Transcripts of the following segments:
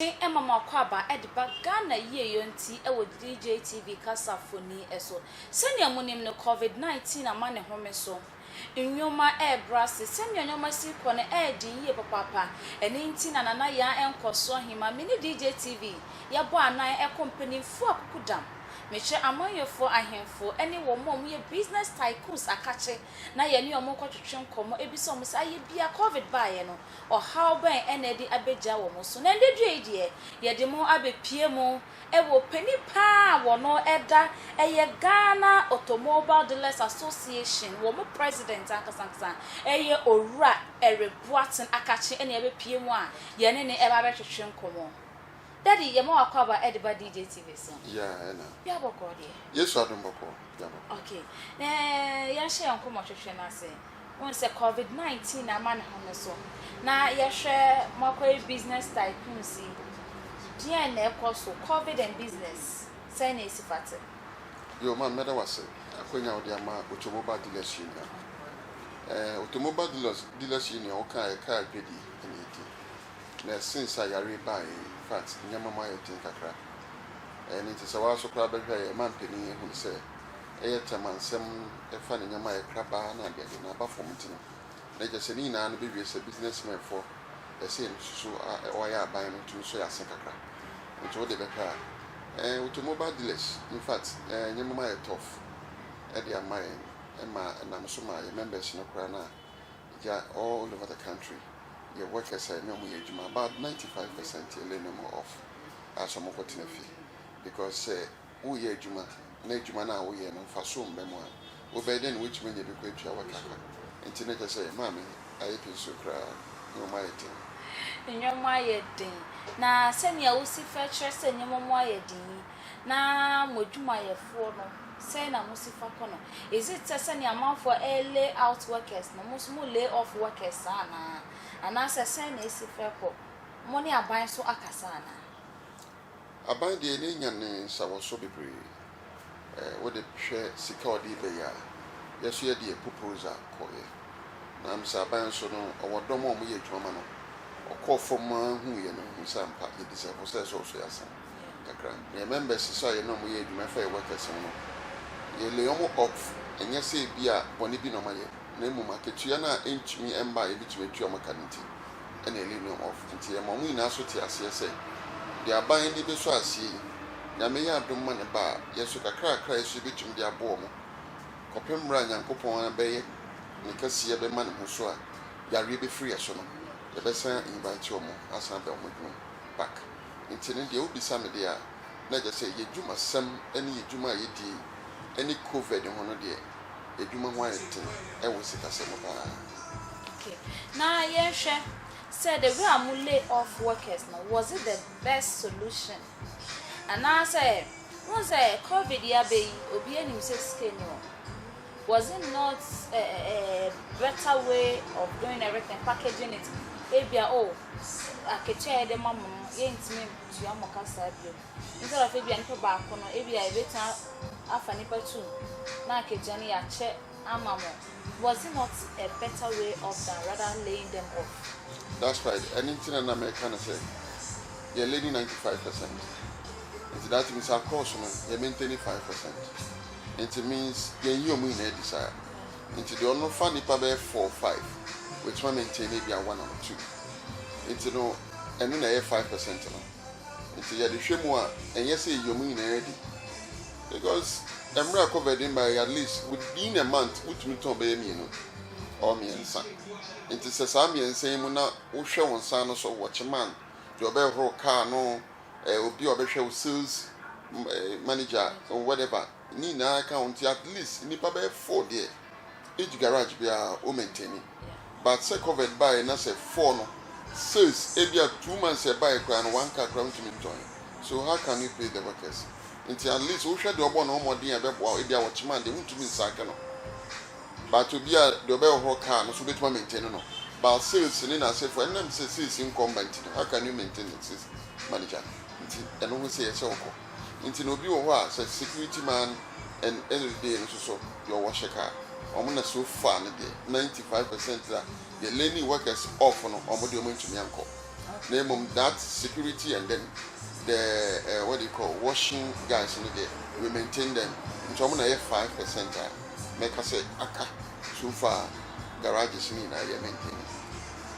Mmɔden ma m'akwaaba de ba Ghana yieyɔ nti wɔ DJTV kasafoni so. Sɛnea munim no, Covid 19 ama ne home so nneɛma rebrɛ ase. Sɛnea nneɛma si rekɔ no reden yiye papaapa. Ɛno nti na Nana Yaa Nkɔso Ahima, me ne DJTV yɛbɔ anan kɔ mpanyimfo akukudam. Mekyerɛ amanyɔfoɔ ahemfo ne wɔn a wɔyɛ business tycoons akakye na yɛne wɔn kɔtwetwe nkɔmmɔ, bisa wɔn sɛ, Ayɛ bi a Covid baeɛ no, Ɔhaw bɛn na ɛde abegya wɔn so? Na ɛnnɛ due yi deɛ, yɛde mo abepue mo wɔ panin paa a wɔn ɛda ɛyɛ Ghana Automobile Dealers Association, wɔn president ankasa ankasa ɛyɛ Owura Eric Boateng Akakye ɛna yɛabepue mo a yɛne no ɛba abɛtwetwe nkɔmmɔ. Daddy, yɛma w'akwaaba ɛde ba DJ TV so. Yeah, ɛna. Bia bɔkɔɔ deɛ. Yesu adom bɔkɔɔ, bia bɔkɔɔ. Okay, na yɛnhyɛ yɛn nkɔmmɔtwetwe no ase. Wohu sɛ covid 19 ama ne ho no so. Na yɛhwɛ Moakɔyɛ Business Tycoons yi, deɛn na ɛkɔ so? Covid and business, sɛn na ɛsi fa te? Yo, Maame mɛda wo ase akwanya a wode ama Automobile Dealers Union. Eh, Automobile Dealers, Dealers Union wokaeɛ, car dwadi na ɛdi. Na since a yareɛ yi baeɛ yi, infact nneɛma mu ayɛ den kakra. Ɛno nti sɛ wo ara so koraa bɛhwɛ a, yɛn mampanin ahunu sɛ yɛ Tɛmansɛm fa ne nneɛma a yɛkra baa na ade ade na aba fam nti no, na ɛkyerɛ sɛ ne nyinaa no bɛwie sɛ businessmenfoɔ ɛsɛ yɛn susu a wɔayɛ aban no tumi sɔ yɛn ase kakra. Nti wode bɛhwɛ a, eh, automobile dealers, in fact, eh, nneɛma ayɛ tough ɛde ama yɛn, ɛma ɛnam so ma yɛn members no koraa no a, gya all over the country, yɛ workers a yɛne wɔn yɛ adwuma, about 95% yɛ lay no mu off a sɛ wɔkɔtena fie because sɛ woreyɛ adwuma na adwuma no a woyɛ no mfaso mma mu a, wobɛyɛ dɛn na woatumi anya bi kɔ atua wo ka ka? Enti na kyerɛ sɛ Maame ayɛ pinso koraa. Nneɛma ayɛ den. Nneɛma ayɛ den. Na sɛnea wosi fa kyerɛ sɛ nneɛma mu ayɛ den yi, na mo adwumayɛfoɔ no, sɛn na mosi fa kɔ no? Is it sɛ sɛnea amanfoɔ re-lay out workers no, mo nso mo lay off workers saa anaa? Anaasɛ sɛn na esi fa kɔ? Mo ne aban nso akasa anaa? Aban deɛ n'ani nya ne nsa wɔ so bebree eh, wo de hwɛ sika a ɔde reba yi a, yɛ so yɛ deɛ Popoza kɔeɛ. Na me sɛ Aban nso no ɔwɔ dɔm a wɔyɛ adwuma ma no, ɔkɔɔ fam ara huiɛ no mehu sɛ ampa yɛ deserve sɛ ɛsɛ ɔso yɛ asan kakra. Na yɛ members so a yɛne wɔn yɛ adwuma ɛfa yɛ workers ho no, yɛ lay wɔn off ɛnyɛ sɛ ebia bɔne bi na wɔayɛ na mmom akatua no a ɛntumi mma a yɛbɛtumi atua wɔn aka no nti. na ɛne no off nti ɛma wɔn nyinaa nso te aseɛ sɛ, deɛ aban de bɛsɔ aseɛ yi, Nyame yɛ adom ma ne ba a, yɛnso kakrakra a yɛsɔ yi bɛtumi de aboɔ wɔn, kɔpem mmerɛ a Nyankopɔn ara bɛyɛ ne kɛseɛ bɛma ne ho so a yareɛ bɛfiri yɛn so no, yɛbɛsan invite wɔn asan abɛ wɔn adwuma mu back. Nti no deɛ wobisa me deɛ a, na ɛkyerɛ sɛ yɛdwumasɛm ne yɛdwuma a yɛdie yi ne Covid ho no deɛ, adwuma ho ayɛ den wɔ sikasɛm mu paa. Okay na yɛnhwɛ sɛ the way a mo lay off workers no was it the best solution anaasɛ wohu sɛ covid yi abɛ yi obiara nim sɛ sika nni hɔ was it not a, a, a better way of doing everything packaging it ebia oh akatua yɛde ma mo no yɛntumi ntua mo ka saa bio. Instead of ebia nipa baako no, ebia yɛbɛtumi a afa nipa two na ankagyina no yɛakyɛ ama mo. Was it not a better way off than rather laying them off? That's right, ɛno nti na na mɛka no sɛ yɛ learning ninety five percent nti that means our course no yɛ maintaining five percent nti means yɛnyi wɔn nyinaa adi saa nti deɛ ɔno fa nipa bɛyɛ four five watumi a maintain ebia one or two nti no ɛno na ɛyɛ five percent no. Nti yɛde hwɛ mu a ɛnyɛ sɛ yɛyi wɔn nyinaa di because mmerɛ a covid no baeɛ at least within a month wotumi tɔn bɛyɛ mmienu or mmiɛnsa nti sɛ saa mmiɛnsa yi mu na wohwɛ wo nsa no so watchman deɛ ɔbɛhoro car no eh, obi a ɔbɛhwɛ wo sales eh, manager whatever Ne nyinaa ka ho nti at least nnipa bɛyɛ four deɛ each garage biara wo maintaini but sɛ covid baeɛ na sɛ four no sales ebia two months a ɛbaeɛ koraa no one car koraa wontumi ntɔn so how can you pay the workers nti at least wohwɛ deɛ ɔbɔ ne ho mmɔden a ɛbɛboa wo ebia wɔkyema a deɛ wontumi nsaake no but obi a deɛ ɔbɛhohoro car no so wobɛtumi a maintaini no but sales ne n'asefoɔ ɛnam sɛ sales nkɔ mma nti no how can you maintain the sales manager nti ɛno ho sɛ yɛ sɛ wokɔ. nti na obi wɔ hɔ a sɛ security man and every day no soso deɛ ɔwɔ hyɛ car wɔn na so far no deɛ ninety five percent na deɛ lane workers off no wɔn deɛ wɔn ntumi nkɔ na emom that security and then the uh, what do you call washing guys no deɛ we maintain them nti wɔn na yɛ five percent a mɛka sɛ aka so far garages no nyinaa yɛ maintain.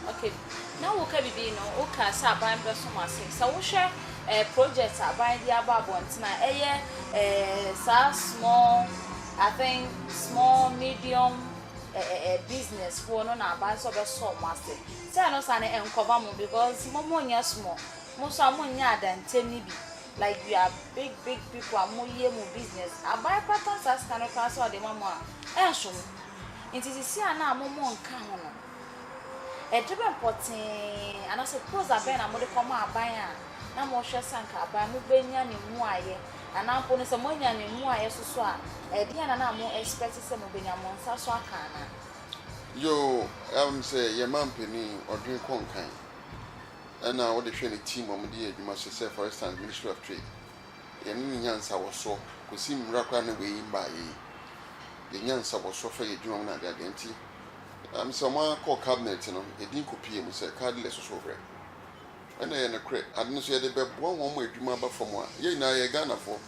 Ok na woka bibi no woka sɛ aban bɛso mo ase sɛ wohwɛ eh, project aban de aba abɔnten a ɛyɛ eh, saa small I think small medium eh, eh, eh business foɔ no na aban sɛ ɔbɛsɔ mo ase sɛ ɛno saa no ɛnkɔba mo because mo mo nyɛ small mo so a mo nyɛ adantɛm no bi like you are big big people a mo yɛ mo business aban kora ka saa sika no kora sɛ ɔde ma mo a ɛnso mo nti sisi a na mo mo nka ho no Ɛdebɛn pɔtee anaasɛ prosa bɛn na mode kɔma aban a na mohwɛ sɛ anka aban no bɛnya ne mmuaeɛ? Anaa mpo no sɛ moanya ne mmuaeɛ soso a, ɛdeɛn na na mo expect sɛ mobɛnya mo nsa so aka anaa? Yoo, ɛwom sɛ yɛn manpanin ɔdwene kɔ nkan ɛna wode hwɛ ne team a wɔde yɛ adwuma so sɛ for instance Ministry of Trade, yɛne no nya nsawɔsoɔ kɔsi mmra koraa na wei mmaeɛ yi. Yɛnya nsawɔsoɔ fa yɛ adwuma mu na adeadeɛ nti. Ɛnam sɛ wɔakɔ cabinet no, edin kɔpuee mu sɛ Cardle Ɛsoso Werɛ. Ɛna ɛyɛ nokorɛ. Ade no nso yɛde bɛboa wɔn ma adwuma aba fam a, yɛn nyinaa yɛyɛ Ghanafoɔ.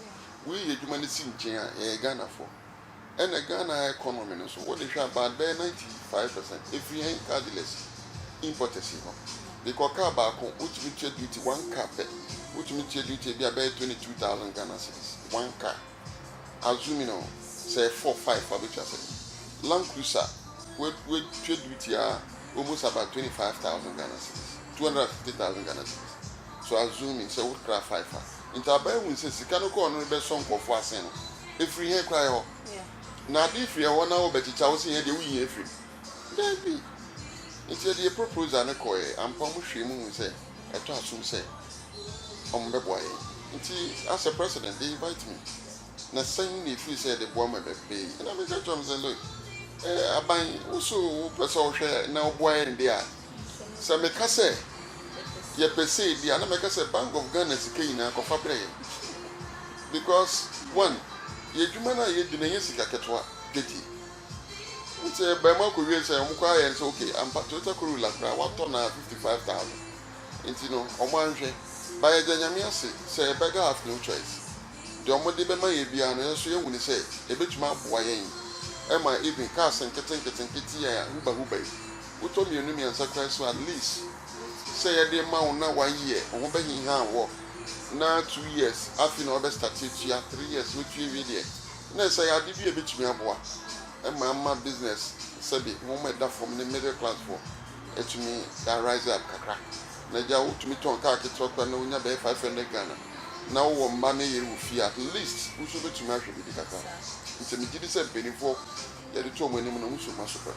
Woyi adwuma no si nkyɛn a, yɛyɛ Ghanafoɔ. Ɛna Ghana economy no nso, wode hwɛ a about bɛyɛ ninety five percent ɛfiri yɛn Cardless importers yi hɔ. De kɔ car baako, wotumi tua duty one car pɛ, wotumi tua duty ebia bɛyɛ twenty two thousand Ghana cedis one car. a zoom in oh sɛ yɛ four five a ɔbɛtwa sɛ land cruiser wɛtwa duru tiaa almost about twenty five thousand Ghana cedis two hundred and fifty thousand Ghana cedis so a zoom in sɛ wokra five a nti aban hu sɛ sika no kɔɔ no no bɛsɔ nkurɔfoɔ asen no ɛfiri hɛn koraa yɛ hɔ na ade firi ɛhɔ na wɔbɛkyekya wo sɛ yɛn deɛ woyi yɛn firi mu daabi nti yɛde yɛ proposal no kɔɛ ampa ɔmo hwɛɛ mu hu sɛ ɛtɔ asom sɛ wɔn bɛboa yɛn nti asɛ president they invite me na sɛn na efiri sɛ yɛde boa ma bɛbee ɛna me nka kyerɛ wɔn sɛ look eh, aban woso wopɛ sɛ ɔhwɛ na ɔboa yɛn de a sɛ meka sɛ yɛpɛ sɛ ebi a na mɛka sɛ bank of Ghana sika nyinaa kɔfa brɛ yɛn because one yɛ adwuma no a yɛdi no ɛnyɛ sika ketewa dwodie. Ntsi bɛma kɔ wiei sɛ ɔmo kɔ ayɛ no sɛ ok ampa Toyota Corolla koraa wɔatɔ no a fifty five thousand ntsi no ɔmo annhwɛ but yɛda Nyame ase sɛ yɛbɛda have no choice deɛ ɔmo de bɛma yɛn biara no yɛso yɛahu no sɛ ebetumi aboa yɛn ma even cars nketse nketse nketse yi a huba huba yi wotɔ mmienu mmiɛnsa koraa so at least sɛ yɛde ma wo na one year wo ho bɛhehaa wɔ na two years afei na wabɛ starte atua three years wotua wie deɛ. Na ɛsɛ yɛ ade bi a ɛbɛtumi aboa ma ama business sɛbe wɔn a ɛda fam ne middle class foɔ atumi a rise up kakra. Na agya wotumi tɔn car ketewa koraa na wonya bɛyɛ five hundred Ghana na wowɔ mma ne yere wɔ fie a at least wo nso wobɛtumi ahwɛ biribi kakra. Nti megye di sɛ mpaninfoɔ yɛde to wɔn anim no, mo nso moasopɛ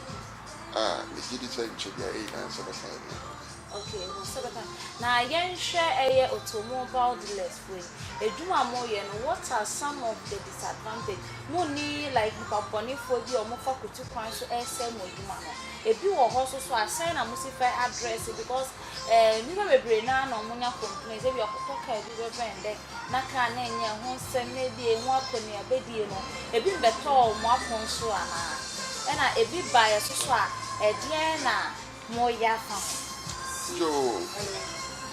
a megye di sɛ nkyɛ biara ɛyɛ nyinaa sɛ bɛka yɛn ho. Okay hɔ sɛ bɛka na yɛn hwɛ ɛyɛ automobile dealers foɔ yi adwuma a mo yɛ no what are some of the disadvantage mo nni like nipa bɔne foɔ bi a ɔmo fa kutu kwan so ɛsɛe mo adwuma no ebi wɔ hɔ nso so a sɛn na mo si fa address because ɛɛ nnipa bebree naa na ɔmo nya complaints ebi ɔkɔtɔ car bi bɛ bɛn dɛ na car no nyɛ ɛho nsɛm na ebi emu akɔ nea bɛdie no ebi mbɛtɔɔ ɔmo apon so anaa ɛna ebi ba yɛ so so a ɛdeɛn na. mo yɛ afa ho. Yo,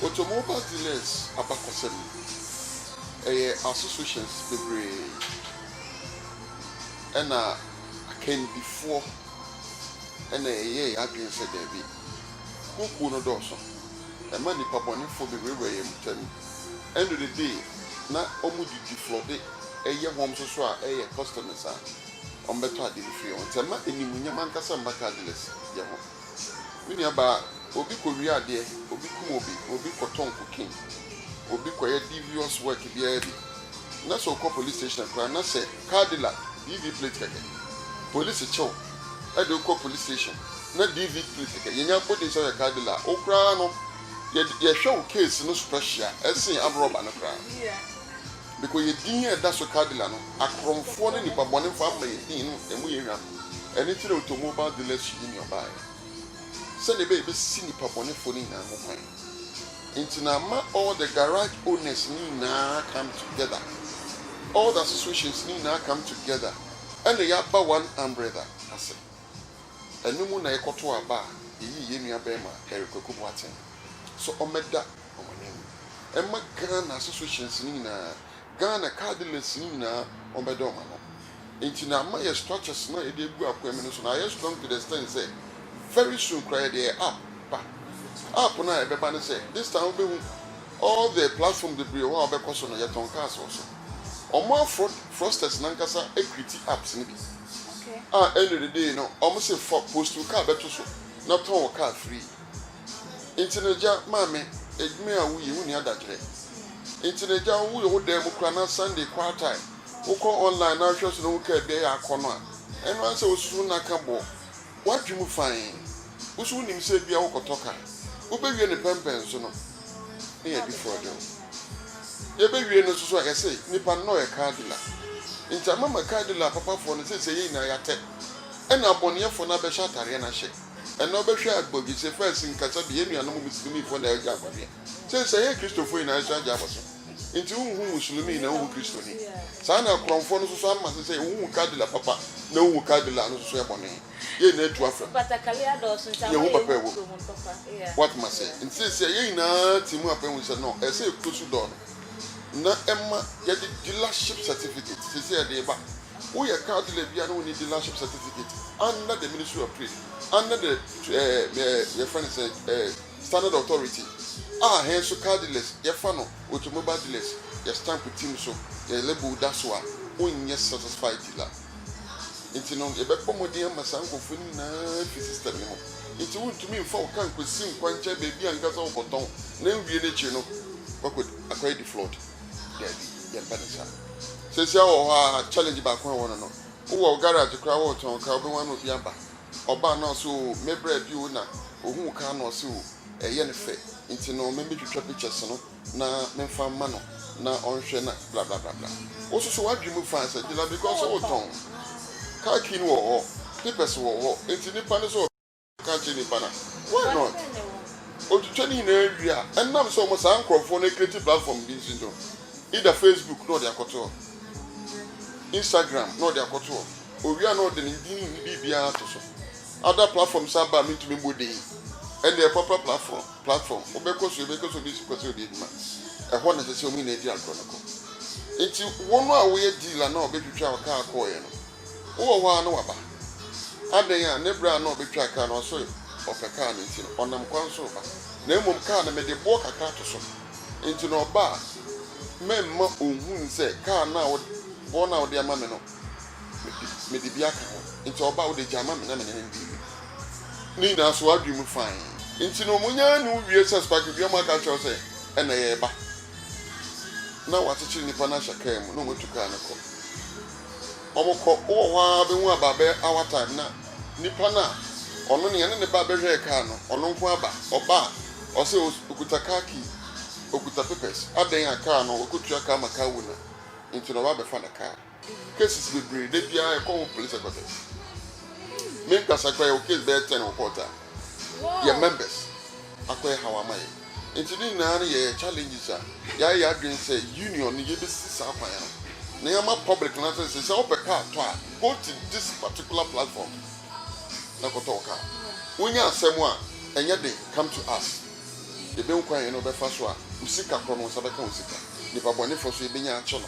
Automobiles Dealers abakɔsɛm no, ɛyɛ associations bebree ɛna akandifoɔ ɛna yɛyɛɛ yɛn adwene sɛ daabi. Kuokuo no dɔɔso, ɛma nnipa bɔnefoɔ bɛwurawura yɛn ntam. End of the day, na wɔdidi flɔde yɛ hɔn nso so a ɛyɛ customers a wɔbɛtɔ ade afiri wɔn nsa. Ɛma animuonyam ankasa mma cardless yɛ ho. Me nuabaa, obi kɔwia adeɛ, obi kum obi, obi kɔtɔn cocaine, obi kɔyɛ devious work biara bi, na sɛ wokɔ police station a koraa na sɛ cardilla DV plate kɛkɛ, polisi kye wo de wo kɔ police station na DV plate kɛkɛ, yɛnya abɔdin sɛ woyɛ cardilla a, wo koraa no, yɛhwɛ wo case no special sen aborɔba no koraa. Biko yɛ din a ɛda so cardinal no, akorɔmfoɔ ne nipabɔnefo ama yɛ din no ɛmu yɛ hwam, ɛno nti na automobile dealership yi ne ɔbaeɛ, sɛdeɛ ɛbɛyɛ ɛbɛsi nipabɔnefoɔ no nyinaa ho kwan, nti na ama all the garage owners no nyinaa come together, all the associations no nyinaa come together ɛna yɛ aba one umbrella ase, ɛno mu na yɛ kɔtoo aba a yɛ yii yɛ nua bɛɛma Eric Kwaku Boateng so ɔmɛda. wɔn anim. Ɛma Ghana associations no nyinaa, Ghana cardless no nyinaa wɔbɛda wɔn ano. Nti na ama yɛ structures no a yɛde agu akwan mu no so na ayɛ strong to the extent sɛ very soon koraa yɛde yɛ app ba. App no a ɛbɛba ne sɛ this time wobɛhu all the platform bebree wɔ hɔ a wobɛkɔ so no yɛtɔn cars wɔ so. Wɔn a fraud fraudsters no ankasa create apps no bi Okay. a end of the day no wɔn se fa post wo car bɛto so na tɔn wo car free. Nti na agya maa me adwuma a woyɛ, wonni adagkyerɛ. Nti na agya woyɛ wo dan mu koraa na Sunday quartile wokɔ online na wohwɛ so na wohu kaabi a yɛ akɔ no a, ɛno ara ne sɛ wosusu ho na ka bɔ w'adwene mu fann. Wo nso wonim sɛ ebia wokɔtɔ car, wobɛwie no pɛmpɛn so no na yɛadifrɔ de wo. Yɛbɛwie no nso so a, yɛse nnipa no na ɔyɛ car dealer. Nti amama car dealer papafoɔ no seesei yɛn nyinaa yɛatɛ, ɛna abɔneyɛfoɔ no abɛhyɛ atareɛ no ahyɛ. Ɛnna ɔbɛhwɛɛ abɔgyesɛ faa sin kasa de, Yɛn nuanom muslimifoɔ na agya abɔ deɛ. Sɛ nsa yɛn Kristofo nyinaa nso agya abɔ so. Enti wonhu muslimi na wonhu Kristoni. Saa na akorɔmfoɔ no nso so ama sesɛɛ wonhu Qadila papa na wonhu Qadila no nso so yɛ bɔne. Yɛn nyinaa tu afra mu. Yɛn ho papa ɛwɔ mu. Woate m'aseɛ? Enti seesei a yɛn nyinaa te mu apɛ ho sɛ no, ɛsɛ yɛkuro su dɔɔ no na ɛma yɛde dealership certificate seesei a yɛde reba Wo yɛ car dealer bia na wo ni dealership certificate under the ministry of trade under the eh eh yɛ frɛ no sɛn eh standard authority a hɛn nso car dealers yɛ fa no automobile dealers yɛ stamp team so yɛ label da so a wo nyɛ satisfied dealer ntsi no yɛ bɛ bɔ mɔden ama saa nkorɔfoɔ no nyina afi system no mu ntsi wo ntumi nfa wo car nkosi nkwankyɛn beebi ankasa wo kɔ tɔn na ewie no ekyir no wakɔ akɔyɛ deflawed. Dabi, yɛmpɛ no saa. Sesia wɔ hɔ a challenge baako a ɛwɔ no no, wowɔ garage koraa woretɔn car, wobɛwɛn na obi aba. Ɔbaa no a ɔse oo me bra bi o na ohuu car no ɔse oo ɛyɛ no fɛ nti no me metwitwa pictures no na memfa mma no na ɔnhwɛ na blablabla. Wososo w'adwene mu fine sɛ gyina because woretɔn. Car key no wɔ hɔ, papers wɔ hɔ nti nipa no sɛ ɔbɛ. Ka kyerɛ nipa na why not otwitwa ne nyinaa wie a ɛnam sɛ ɔmo saa nkorɔfoɔ no ɛcreate platform bi nti no either facebook na ɔde akɔto hɔ instagram na ɔde akɔto hɔ owie a na ɔde ne din ne biribiara ato so other platform san ba a mentumi mbɔ din ɛnneɛ proper platform platform wobɛkɔ so yɛbɛkɔ so de sikɔ sɛ ɔde adwuma ɛhɔ na ɛsɛ sɛ ɔmo nyinaa di agorɔ no kɔ nti wo no a woyɛ deal a na ɔbɛtwitwa wo kaa kɔɔeɛ no. Wowɔ hɔ ara na waba. Adɛn a, ne berɛ a na ɔbɛtwa kar no, ɔso ɔpɛ kar no nti no, ɔnam kwan so reba. Na mmom kar no, mede boɔ kakra to so. Enti na ɔba a, mɛmma ɔnhunu sɛ kar no a wo, boɔ no a wode ama me no, mede bi aka ho. Enti ɔba a, wode gya ma me na me ne no ndi awie. Ne nyinaa so w'adwene mu fann. Enti no, monyaa ne wo wie sɛ Sparky dua mu aka akyerɛ wo sɛ, Ɛnnɛ yɛreba. Na wɔakyekyere nnipa no ahyɛ kar mu, na wɔatu kar no kɔ. wɔkɔ wowɔ hɔ ara bɛhu aba bɛyɛ hour time na nipa no a ɔno nea ne ne ba bɛhwɛɛ car no ɔno nko aba ɔba a ɔsɛ ɔkuta car key ɔkuta papers adɛn a car no ɔkɔtua car ma car owner nti na ɔba bɛfa ne car cases bebree da biara ɛkɔ wo police headquarters me nkasa kora yɛwɔ case bɛyɛ 10 wɔ court a yɛ members akɔyɛ haw ama yɛ. Nti ne nyinaa no yɛyɛ challenges a yɛayɛ yɛadwene sɛ union no yɛbɛsi saa kwan no na yɛama public no ate sɛ sɛ wopɛ car tɔ a go to this particular platform na kɔtɔ wo car. Wonya asɛm a ɛnyɛ den come to us. Yɛbɛhu kwan a yɛne wo bɛfa so a wo sika korɔ no wo nsa bɛka wo sika. Nipa bɔnefoɔ nso yɛbɛnya akye no.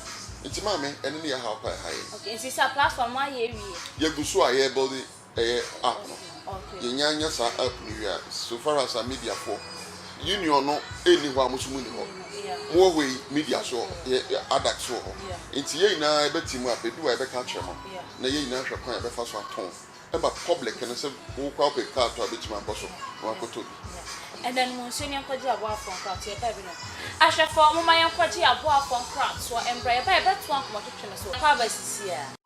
Nti maame ɛno ne yɛhaw paa ɛha yɛn. Okay nti sɛ platform no ayɛ awie. Yɛgu so a yɛrebuilde Ɛyɛ app no yɛnya nya saa app no wie a so far as a media foɔ union no nni hɔ a mo nso monni hɔ mo wɔ hɔ yi media nso wɔ hɔ yɛ addact nso wɔ hɔ nti yɛn nyinaa yɛbɛte mu a bɛdu a yɛbɛka akyerɛ mo na yɛn nyinaa ahwɛ kwan a yɛbɛfa so atɔn ma public no sɛ wo koraa wopɛ car tɔ a bɛtumi akɔ so na wɔakɔtɔ bi. Ɛnnɛ no monsuo ne nkɔgye aboafoɔ nkratoɔ yɛbaeɛ binom ahwɛfoɔ momma yɛnkɔgye aboafoɔ nkratoɔ mbra yɛbaeɛ bɛtoa nkɔmɔtwetwe no so kɔ abasisi a.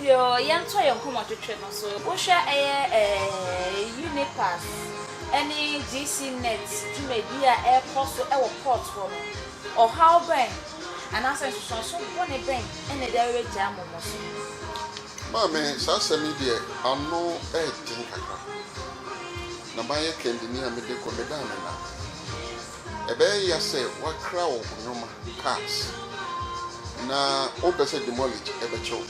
Yoo yɛntoa yɛn nkɔmmɔtwetwe no so. Wohwɛ ɛyɛ eh, UNIPAS ne GCNet dwumadi a ɛrekɔ so wɔ court hɔ no, ɔhaw bɛn anaasɛ nsusuanso bɔne bɛn na ɛde awerɛgyae mo mo so? Maame, saa asɛm yi deɛ ano ɛɛden kakra. Na mayɛ kɛndini a mede kɔ, medaa me nna. Ɛbɛyɛ ya sɛ woakra wo nnoɔma, cars, na wopɛ sɛ demolish ɛbɛkyɛ wo.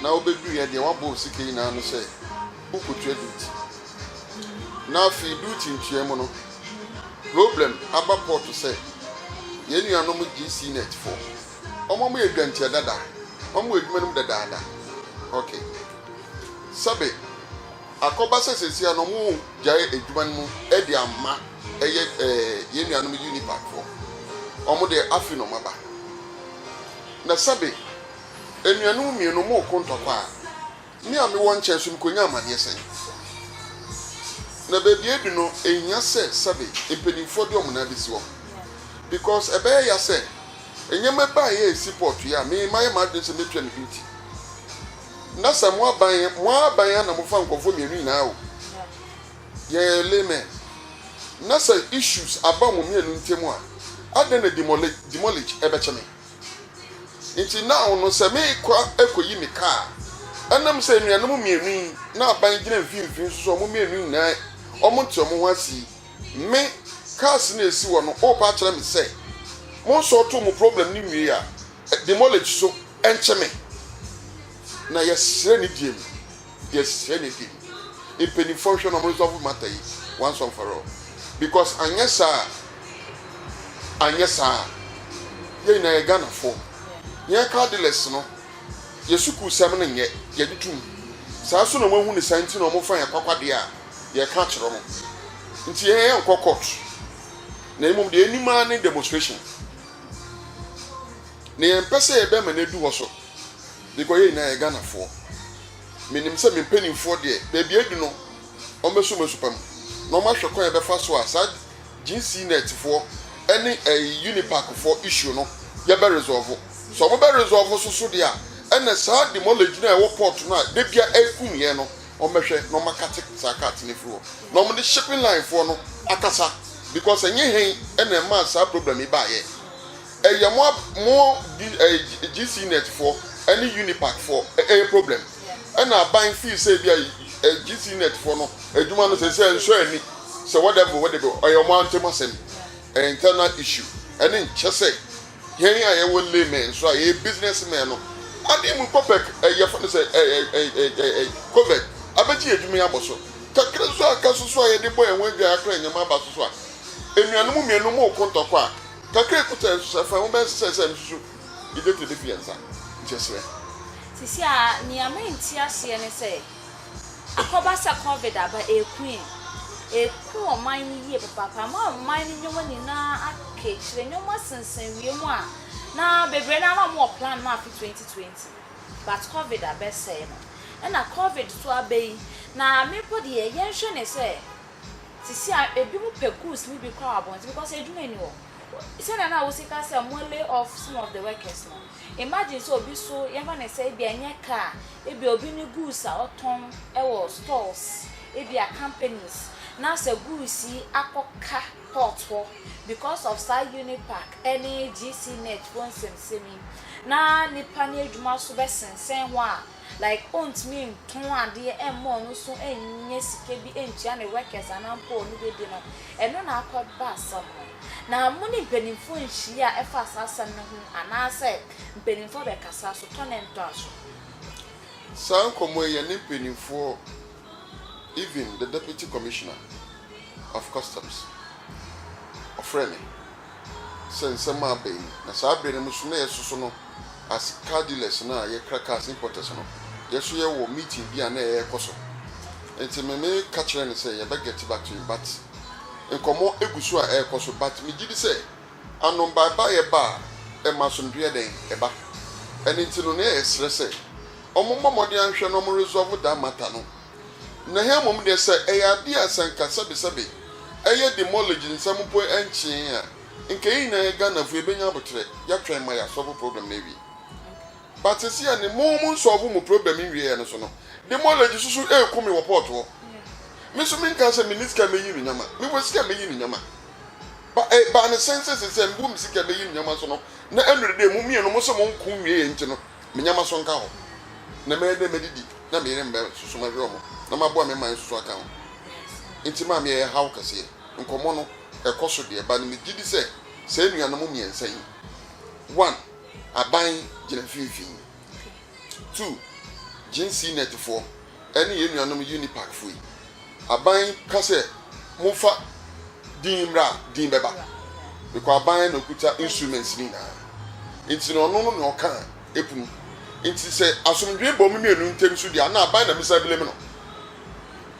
Na wobɛduruiɛ deɛ woabɔ wo sika nyinaa ano sɛ worekɔtua duty. Na afei duty ntua mu no, problem aba pɔɔto sɛ yɛn nuanom GCnet foɔ, wɔn a wɔyɛ dwantia dada, wɔn a wɔwɔ adwuma no mu dadaada, ok, sɛbe. Akɔba sɛ sesia no ɔmo gyae adwuma no mu de ama ɛyɛ yɛn nuanom Unipac foɔ. Ɔmo deɛ afe na ɔmo aba. Na sɛbe anuanom mmienu ɔmo reko ntɔkwa a, me a mewɔ nkyɛn so mekɔnya amaneɛ sɛn? Na baabi a adu no ɛhia sɛ sɛbe mpaninfoɔ de ɔmo nan bɛsi hɔ because ɛbɛyɛ ya sɛ nneɛma baeɛ a ɛsi pɔɔtoeɛ a me mayɛ m'adwene sɛ mɛtua me duty na sɛ mo aban yɛ mo ara aban a na mofa nkurɔfoɔ mmienu nyinaa o yɛ laymen na sɛ issues aba wɔn mmienu ntam a adɛn na demoli demolish ɛbɛkyɛ me nti now no sɛ mekɔ ɛkɔyi me kaa a ɛnam sɛ nnuanom mmienu yi na aban gyina mfimfini nso sɛ wɔn mmienu nyinaa wɔn nte wɔn ho ase yi me cars na ɛsi hɔ no worepa akyerɛ me sɛ mo nsɔɔto mo problem no nwie a Demolish so ɛnkyɛ me na yɛsrɛ ne deɛ mu yɛsrɛ ne deɛ mu mpanyinfoɔ nhwɛ na ɔmo resolve matter yi once and for all because anyɛ saa anyɛ saa yɛn nyinaa yɛ Ghanafoɔ yɛn car dealers no yɛ sukuu sɛm no nyɛ yɛde tum saa so na ɔmo ahu ne saa nti na ɔmo fa yɛn kwakwadeɛ a yɛka akyerɛ ɔmo nti yɛn yɛn nkɔ court na mmom deɛ yɛnim ara ne demonstration. Nea yɛmpɛ sɛ yɛbɛma no adu hɔ so, because yɛn nyinaa yɛ Ghanafoɔ. Menim sɛ me mpanimfoɔ deɛ, baabi a adu no, wɔbɛsɔ wɔn asupam, na wɔahwɛ kwan a yɛbɛfa so a saa GCNet foɔ ne ɛyi Unipac foɔ issue no, yɛbɛ resolve. Sɛ wɔbɛ resolve so so deɛ a, ɛnna saa demolish no a ɛwɔ port no a da biara ɛkum yɛn no, wɔbɛhwɛ na wɔakate saa cart no afiri hɔ na wɔde shipping line foɔ no akasa because ɛnyɛ hɛn ɛna ɛmaa saa problem yi baayɛ ɛyɛ mo mo GC net foɔ ɛne Unipack foɔ ɛyɛ problem ɛna aban fii sɛ bi a GC net foɔ no adwuma no sɛ sɛ nsɔ ani sɛ whatever whatever ɛyɛ wɔn antem asɛm ɛyɛ internal issue ɛne nkyɛ sɛ Hɛn a yɛwɔ laymen nso a yɛyɛ business men no, adan mu copec, yɛfrɛ no sɛ covec, abɛgye yɛn edwuma yi abɔ so. Kakra nso a aka so so a yɛde bɔ hɛn ho edwaa koraa nnyɛ ma aba so so a. Enuanom mienu mo roko ntɔkwa a, kakra a ekuta hɛn nso sɛ fa ho bɛyɛ sesɛɛ sɛ mesusu Idete befi hɛn nsa. Nkyerɛserɛ. Sesei ara, nea merente aseɛ ne sɛ, Akɔba sɛ covid aba ɛku yɛn, ɛku ɔman no yie papaapa ama ɔman no nneɛma nyinaa aka akyire, nneɛma sensɛn wiem a na bebree no ara na wɔn wɔ plan ma afe 2020 but covid abɛsɛe no, ɛna covid nso aba yi na me mpo deɛ yɛn hwɛ ne sɛ sisi a ebi mo pɛ goods no bi kora wɔ abɔnten because adwuma ni hɔ, sɛdeɛ na wosi ka sɛ mo lay off some of the workers no, imagine sɛ obi so yɛn fa ne sɛ ebi a ɛnyɛ car. Ebia obi ne goods a ɔtɔn wɔ stores, ebia companies, na sɛ goods yi akɔ ka port hɔ because of saa Unipac ne GC Net foɔ nsɛmsɛm yi, na nipa no adwuma so bɛsensɛn hɔ a, like ɔntumi ntɔn adeɛ mma ɔno nso nyɛ sika bi ntua ne workers anaa mpo ɔno bɛdi no, ɛno na akɔ ba asɛm no. Na mo ne mpanimfoɔ nhyiaa ɛfa saa asɛm no ho anaa sɛ mpanimfoɔ bɛkasa so, tɔ ne ntɔ aso. Saa nkɔmmɔ yi yɛne mpaninfoɔ even the deputy commissioner of customs ɔfrɛɛ me sɛ nsɛm a aba yi mu na saa berɛ no mu nso na yɛsoso no as car dealers no a yɛkra cars importers no yɛso yɛwɔ meeting bi a na ɛrekɔ so nti me me ka kyerɛɛ no sɛ yɛbɛ get back to him but nkɔmmɔ gu so a ɛrekɔ so but megye di sɛ Ano baebaeɛ ba a, ɛma asomdwoeɛ yɛ dɛn? Ɛba. Ɛno nti no, na yɛsrɛ sɛ wɔmmɔ mmɔden anhwɛ na wɔresolve that matter no. Na ha mmom deɛ, sɛ ɛyɛ adeɛ a sɛ nka sɛbesɛbe ɛyɛ demolish nsɛm mpo ɛnkyeeɛ a, nka yɛn nyinaa yɛ Ghanafoɔ, yɛbɛnya aboterɛ, yɛatwɛn ma yɛasolve problem no awie. But seesei a ne mo monsolve mo problem nwieeɛ no so no, demolish so so reku me wɔ port hɔ. Me nso menkaa sɛ menni sika a mɛyi no nyama, mewɔ sika a mɛyi no nyama. Ba eh, ba ne sɛn sɛ sesɛ mbu me sika bɛyi me nyɛma so no na ɛnore dɛ mo mmienu mo se monko nwie yɛ nti no me nyɛma so nka hɔ na mɛyɛ dɛ mɛdidi na me yere mbɛ soso mɛhwɛ ɔmo na maboa me man soso aka ho nti maame ɛyɛ haw kɛseɛ nkɔmɔ no ɛkɔ so deɛ ba no me gyidi sɛ saa anuanom mmiɛnsa yi one aban gyina mfinfin. Tu Gene CNET foɔ ɛne yɛn nuanom Unipac foɔ yi. Aban ka sɛ monfa din mmra a din bɛba bcause aban na ɔkuta instruments no nyinaa nti no ɔno no na ɔka a ɛpunu nti sɛ asomdwee ba ɔmo mmienu ntem nso deɛ a na aban na mesa blame no.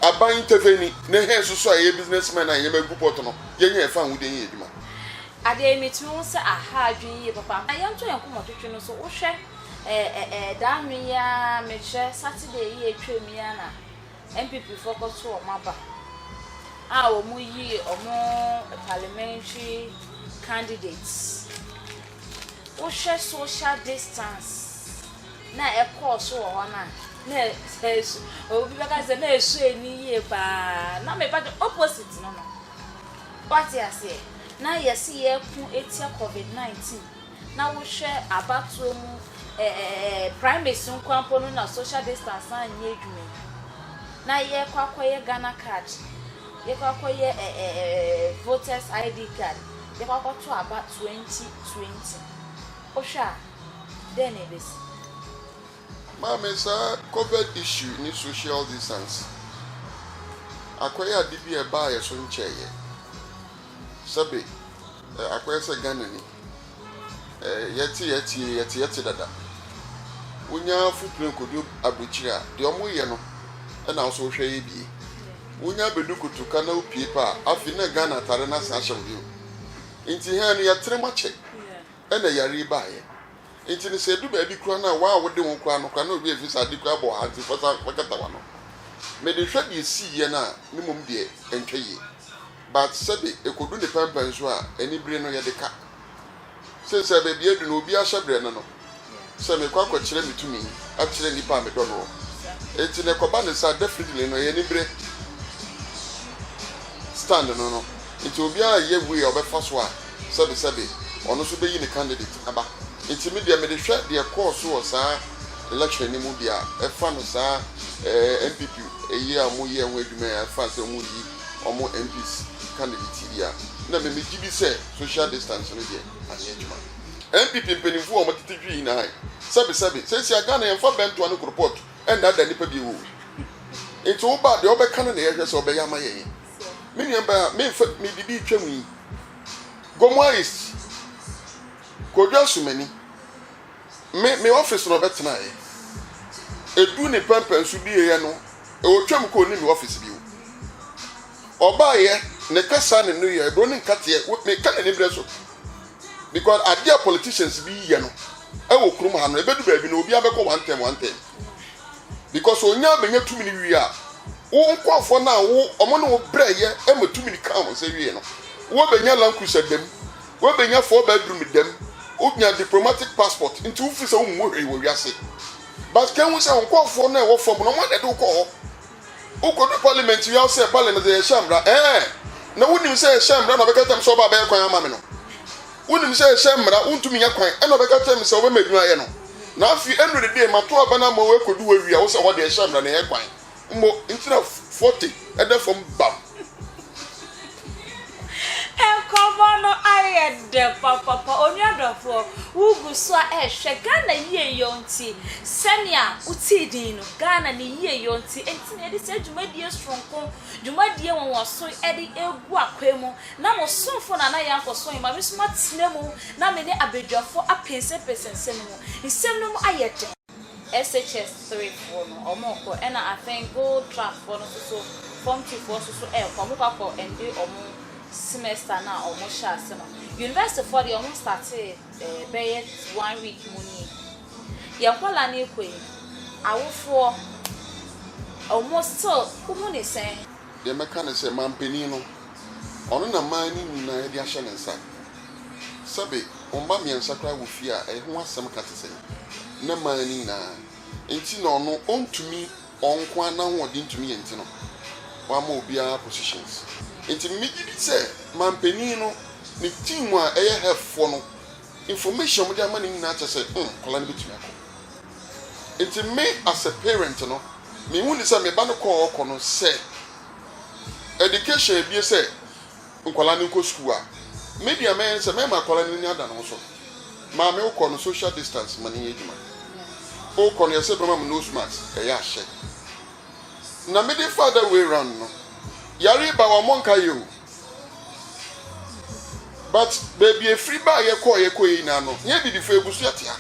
Aban ntefeni ne hɛn nso so a yɛyɛ business men a yɛn nneɛma gu pɔt no yɛnyɛ yɛn fanhodeɛ nyɛ yɛn adwuma. Adɛɛ metumi hu sɛ ahaa adwene yie papa na yɛnto yɛn nkɔmɔtwetwe no so wohwɛ ɛɛɛɛɛ daa nwen yi ara mekyerɛ Saturday yi a ɛtwaam yi ara na NPP foɔ kɔto wɔn aba a wɔn yii wɔn parliamentary candidate wohwɛ social distance na ɛkɔɔ so wɔ hɔ no a na ɛsu obi bɛka sɛ na ɛsu ani yie paa na meba de opposite no no. Wate aseɛ? Na yɛse yɛreko atia covid 19 na wohwɛ abatoɔ mu ɛɛɛ primaries no nkoa mpo no na social distance no anyɛ adwuma yi. Na yɛrekɔ akɔyɛ Ghana card, yɛkɔ akɔyɛ ɛɛɛ voters ID card, yɛkɔ akɔto aba 2020. Wohwɛ a dɛn na ɛbɛsi? Maame saa covid issue ne social distance akɔyɛ ade bi a ɛbaa yɛ so nkyɛeɛ sɛbe akɔyɛ sɛ Ghanani yɛte yɛteɛ yɛte yɛte dada wonya fo plane kɔdu abrekyire a deɛ ɔmo yɛ no na wo so wo hwɛ yɛ bie wonya bɛdu kotoka na wo pie pɛ a afei na Ghana atare no asan ahyɛ wo bio nti hɛn no yɛtere mo akyɛ ɛna yare yi baa yɛ Enti no sɛ edu baabi koraa no a wo a wode wo ho kura no koraa na obi a efi sɛ ade koraa bɔ wo hantee fa san bɛkata w'ano. Mede hwɛ deɛ siiɛ no a ne mmom deɛ ɛntwa yie. But sɛbe ɛkɔdu ne pɛnpɛn so a anibere no yɛde ka. Seesei baabi a adu no obi ahyɛ berɛ no no sɛ mekɔ akɔkyerɛ me tumi akyerɛ nnipa a medɔ no hɔ. Enti no ɛkɔba no saa definitely no ɛyɛ anibere stand no no. Nti obiara reyɛ way a ɔbɛfa so a sɛbesɛbe ɔno nso bɛyi ne candidate aba. Nti me deɛ mede hwɛ deɛ ɛkɔɔ so wɔ saa election no mu deɛ a ɛfa no saa ɛɛ NPP yi a wɔyɛɛ ho adwuma yi a ɛfa sɛ wɔreyi wɔn MPs candidate yi a na me megye di sɛ social distance no deɛ anyɛ adwuma. NPP mpaninfoɔ a wɔtete dwi yi na ae sɛbesɛbe seesei a Ghana yɛmfa bɛntoa ne koropɔt nnaadaa nnipa bio oo. Nti wo ba deɛ wobɛka no na yɛhwɛ sɛ ɔbɛyɛ ama yɛn. me nua baa a memfa mede bi retwam yi gomua is kodu asomani me me office na ɔbɛtenaeɛ edu ne pɛmpɛn so dieɛ no ɔtwam kɔ ne me office bio ɔbaeɛ ne kasa ne no yɛ eburo ne nkateɛ wo- me ka n'ani berɛ so because adeɛ a politicians bi yɛ no ɛwɔ kurom ha no ebedu baabi no obiara bɛkɔ one term one term because onyaa bɛnya tumi no wie a, wo nkorɔfoɔ no a wo ɔmo ne wo brɛɛyɛ ɛma tumi no kaa wɔn nsa wiee no, wo bɛnya land cruiser dɛm, wo bɛnya four bedroom dɛm, wo nya diplomatic passport, nti wo firi sɛ wo mmɔ hwee wɔ wiase. But kan hu sɛ wo nkorɔfoɔ no a ɛwɔ fam no ɔmo na ɛde wo kɔɔ hɔ. Wo kɔ du parliament wie a wo sɛ parliament deɛ yɛhyɛ mmra, ɛɛn, na wo nim sɛ yɛhyɛ mmra na ɔbɛka tam sɛ ɔba abɛyɛ kwan ama me no. Wonim sɛ ɛhyɛ mmara, wontumi nya kwan, ɛnna ɔbɛka kyerɛ me sɛ wobɛma adwuma ayɛ no. Na afei ɛnnuru de deɛ, mato aba no ama wɔakodu hɔ awie a, wo sɛ hɔ deɛ ɛhyɛ mmara na ɛyɛ kwan mmɔ nti na forte da fam bam. Nkɔmmɔ no ayɛ dɛ papapa. Onua dɔfoɔ, wogu so a ɛrehwɛ Ghana yieyɔ nti, sɛnea wotee din no, Ghana ne yieyɔ nti, enti na yɛde saa dwumadie soronko, dwumadie nwanwaso de regu akwan mu Na mo somfo Nana Yankɔso Nymamesom atena mu na me ne abadwafo apensenpensen nsɛm no mu. Nsɛm no mu ayɛ den. SHS three foɔ no wɔrekɔ ɛna I think Gold Trust foɔ no nso so Form two foɔ nso so ɛrekɔ wɔrekɔ akɔ ɛnde wɔn semester no a wɔn hyɛ ase no. University foɔ deɛ wɔn startee ɛɛ bɛyɛ one week mu nie. Yɛn nkwadaa no rekɔ yi awofoɔ wɔn still wohu ne sɛn? Deɛ mɛka ne sɛ, mampanin no, ɔno na mmaa no nyinaa de ahyɛ ne nsa. Sɛbe wo mma mmiɛnsa koraa wɔ fie a, ɛho asɛm ka te sɛn na mmaa no nyinaa? Enti na ɔno, ɔntumi, ɔno nko ara n'ahoɔden ntumi yɛ nti no, wamma obiara positions. Enti megye di sɛ mampanin no, ne team a ɛyɛ Hef foɔ no, information a wɔde ama no nyinaa kyerɛ sɛ hmm nkwadaa no bɛtumi akɔ. Nti me as a parent no, me hu ne sɛ me ba no kɔ a ɔɔkɔ no sɛ education abue sɛ nkwadaa no nkɔ sukuu a, me deɛ mɛyɛ ne sɛ mɛma akwadaa no ani ada ne ho so. Maame wo kɔ no social distance ma no nyɛ adwuma. Wo kɔ no yɛ sɛ bɛma mo nose mask ɛyɛ ahyɛ. Na me de fa other way round no, yare ba wɔn nka yɛ o. But baabi efiri baa yɛ kɔɔ yɛ kɔ yɛ nyinaa no nyɛ abibifo abusua tia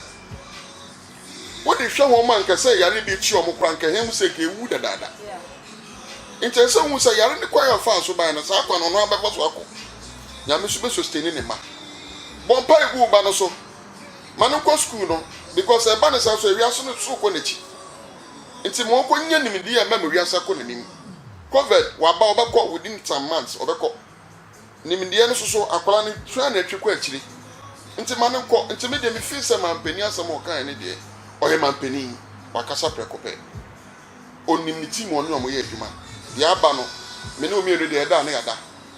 wo de hwɛ wɔn ma nka sɛ yare bi kyi wɔn koraa nka hɛn mu sɛ nka ewu dadaada nkyɛn sɛ ohun sɛ yare ne kwan a ɔfaa so bae no saa kwan no ɔno ara bɛfa so akɔ nyame nso bɛ susteni ne mma bɔ mpae gu wo ba no so ma no nkɔ sukuu no because ɛba ne saa so ewiase no so kɔ n'akyi nti ma ɔnkɔ nya nimdeɛ a ɛbɛma wiase akɔ n'anim. Covid waba ɔbɛkɔ within some months ɔbɛkɔ nimdeɛ no soso akwadaa no tua no atwi kɔ akyire nti ma no nkɔ nti me deɛ me feel sɛ manpanin asɛm a ɔkaeɛ no deɛ ɔyɛ manpanin wakasa prɛko pɛ ɔnim ne team ɔne wɔn yɛ adwuma deɛ aba no me ne wɔn mmienu deɛ yɛda a na yɛada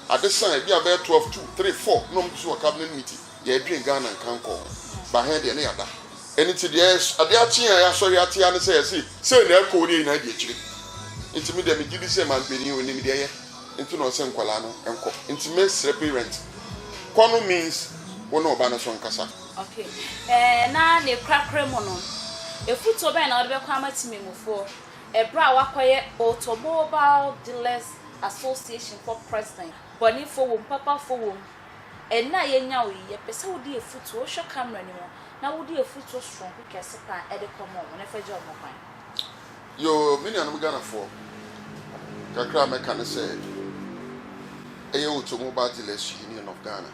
ade saa ebi a bɛyɛ twelve two three four na wɔn gu so wɔ cabinet meeting. Yɛredwen Ghana nkankɔ ho, but hɛn deɛ ne yɛada. Ɛno nti deɛ adeɛ akye a yɛasɔre ate ara ne sɛ yɛse sei na ɛkɔ wodeɛ nyinaa di akyire. Nti medeɛ megye di sɛ manpanin onim deɛ ɛyɛ nti na ɔse nkwadaa no nkɔ. Nti mesrɛ parent, kɔ no means wo ne ɔba no so nkasa. Ok. Ɛɛ na ne korakora mu no, afutuo bɛn na wode bɛkɔ ama timimufoɔ ɛberɛ a woakɔyɛ Automobile Dealers Association for President? Bɔnefoɔ wom, papafoɔ wom, Nna a yenya wo yi, yɛpɛ sɛ wode afutu, wohwɛ camera no mu, na wode afutu soronko kɛse paa ɛde kɔma ɔmo, na ɛfa gya ɔmo kwan. Yoo me nuanom Ghanafoɔ, kakra a mɛka ne sɛ, ɛyɛ Automobile Dealers Union of Ghana,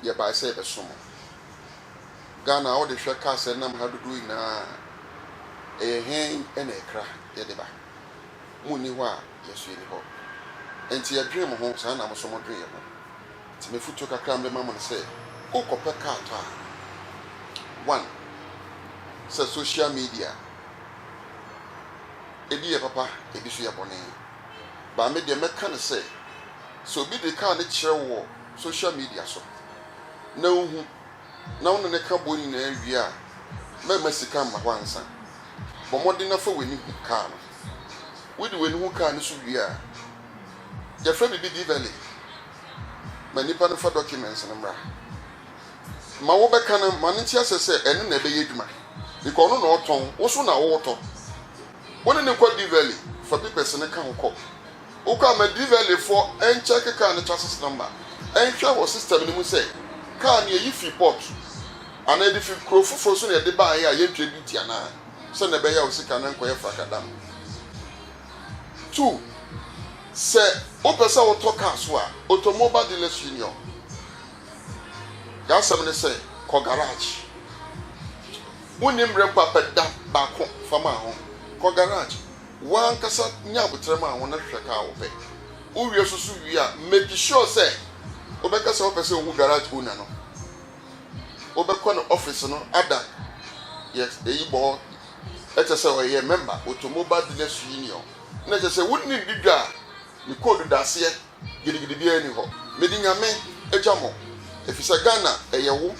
yɛbae sɛ yɛbɛso mo. Ghana a wode hwɛ cars a ɛnam ha dodoɔ nyinaa a, ɛyɛ hen na ɛkra yɛde ba? Mo nni hɔ a, yɛn nso yɛnni hɔ. Enti yɛdwene mo ho saa na mo nso modwene yɛn ho. Enti m'afotuo kakra a mede ma mo ne sɛ, worekɔpɛ kaa tɔ a, one, sɛ social media, ebi yɛ papa, ebi nso yɛ bɔne. But me deɛ mɛka ne sɛ, sɛ obi de kaa no kyerɛ wo wɔ social media so na wohu na wo ne no ka boɔ no nyinaa wie a, mɛmma sika mma hɔ ansa. Bɔ mmɔden na fa w'ani hu kaa no. wode w'ani ho kaa no so wie a, yɛfrɛ biribi Divelli ma nnipa no fa documents no mmra. Ma wobɛka no ma no nte asɛ sɛ ɛno na ɛbɛyɛ adwuma because ɔno na ɔtɔn, wo nso na wotɔ. Wo ne no kɔ Divelli, fa papers no ka ho kɔ. Wokɔ a ma Divelli foɔ nkyɛke kaa no chassis number, nhwɛ wɔ system no mu sɛ kaa no yɛyi fii port anaa yɛde firi kuro foforɔ so na yɛde baeɛ a yɛntua duty anaa. sɛnea ɛbɛyɛ a wo sika no renkɔyɛ frakadam. Two, sɛ wopɛ sɛ wotɔ kaa so a, Automobile Dealers Union, y'asɛm ne sɛ kɔ garage. Wonni mmerɛ mpo a, pɛ da baako fa maa ho. Kɔ garage, w'ankasa nya aboterɛ maa ho na hwɛ kaa a wopɛ. Wowie susu wie a, make sure sɛ wobɛka sɛ wopɛ sɛ wohu garage owner no. wobɛkɔ ne office no ada yɛ eyi bɔ hɔ ɛkyɛ sɛ ɔyɛ member automobile dealers union na ɛkyɛ sɛ wonni di dwa a ne code da aseɛ gidigidi biara nni hɔ mede nyame agya mo efisɛ Ghana ɛyɛ wo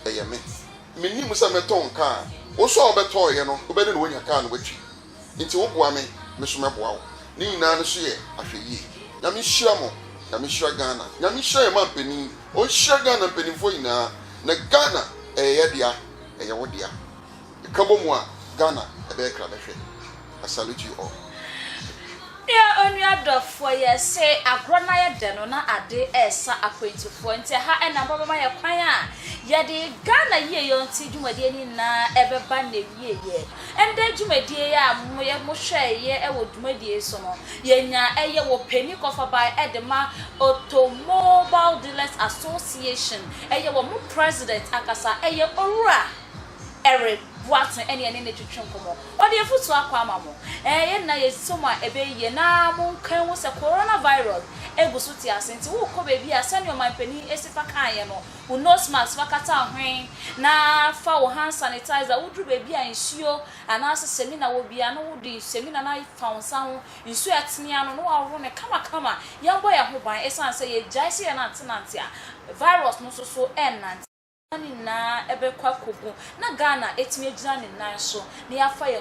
ɛyɛ me mennim sɛ mɛtɔn car a wo nso a wobɛtɔeɛ no wobɛne ne wanya car no watwi Nti wo boa me, me nso mɛboa wo. Ne nyinaa no so yɛ ahwɛyie. Nyame nhyira mo, Nyame nhyira Ghana, Nyame nhyira yɛn manpanin, ɔnhyira Ghana mpaninfoɔ nyinaa, na Ghana ɛyɛ yɛ dea, ɛyɛ wo dea. Yɛka bɔ mu a, Ghana ɛbɛyɛ krabɛhwɛ. I salute you all. Deɛ onua dɔfoɔ yɛ se agorɔ no ayɛ dɛ no na ade resa akwantufoɔ nti ɛha na mpa bɛma yɛ kwan a yɛde Ghana yieyɔ nti dwumadie no nyinaa ɛbɛba n'awieɛ. Ndɛ dwumadie yi a moyɛ mo hwɛɛ yɛ wɔ dwumadie yi so no yɛ nyaa ɛyɛ wɔ pɛni kɔfabaɛ ɛde ma Automobile Dealers Association ɛyɛ wɔ mo president ankasa ɛyɛ Owura Eric Boateng ɛne yɛne no twetwe nkɔmɔ ɔde afutuo akɔ ama mo ɛɛ yɛ nyinaa yɛsɔ mu a ɛbɛyɛ yie na mo nka nhu sɛ Corona Virus ɛgu so te ase nti wo kɔ baabi a sɛdeɛ ɔmanpanin Asifa kaeɛ no wo nose mask fa kata wo hwen na fa wo hand sanitizer woduru baabi a nsuo anaase samina wɔ biaa no wode samina no afa wo nsa ho, nsuo a ɛtene ano no waworo no kamakama. Yɛbɔ yɛn ho ban ɛsiane sɛ yɛgyae sɛ yɛnantenante a virus no nso so ɛnnante. Nneɛma no nyinaa bɛkɔ akɔgu na Ghana atumi agyina ne nan so na yɛafa yɛn.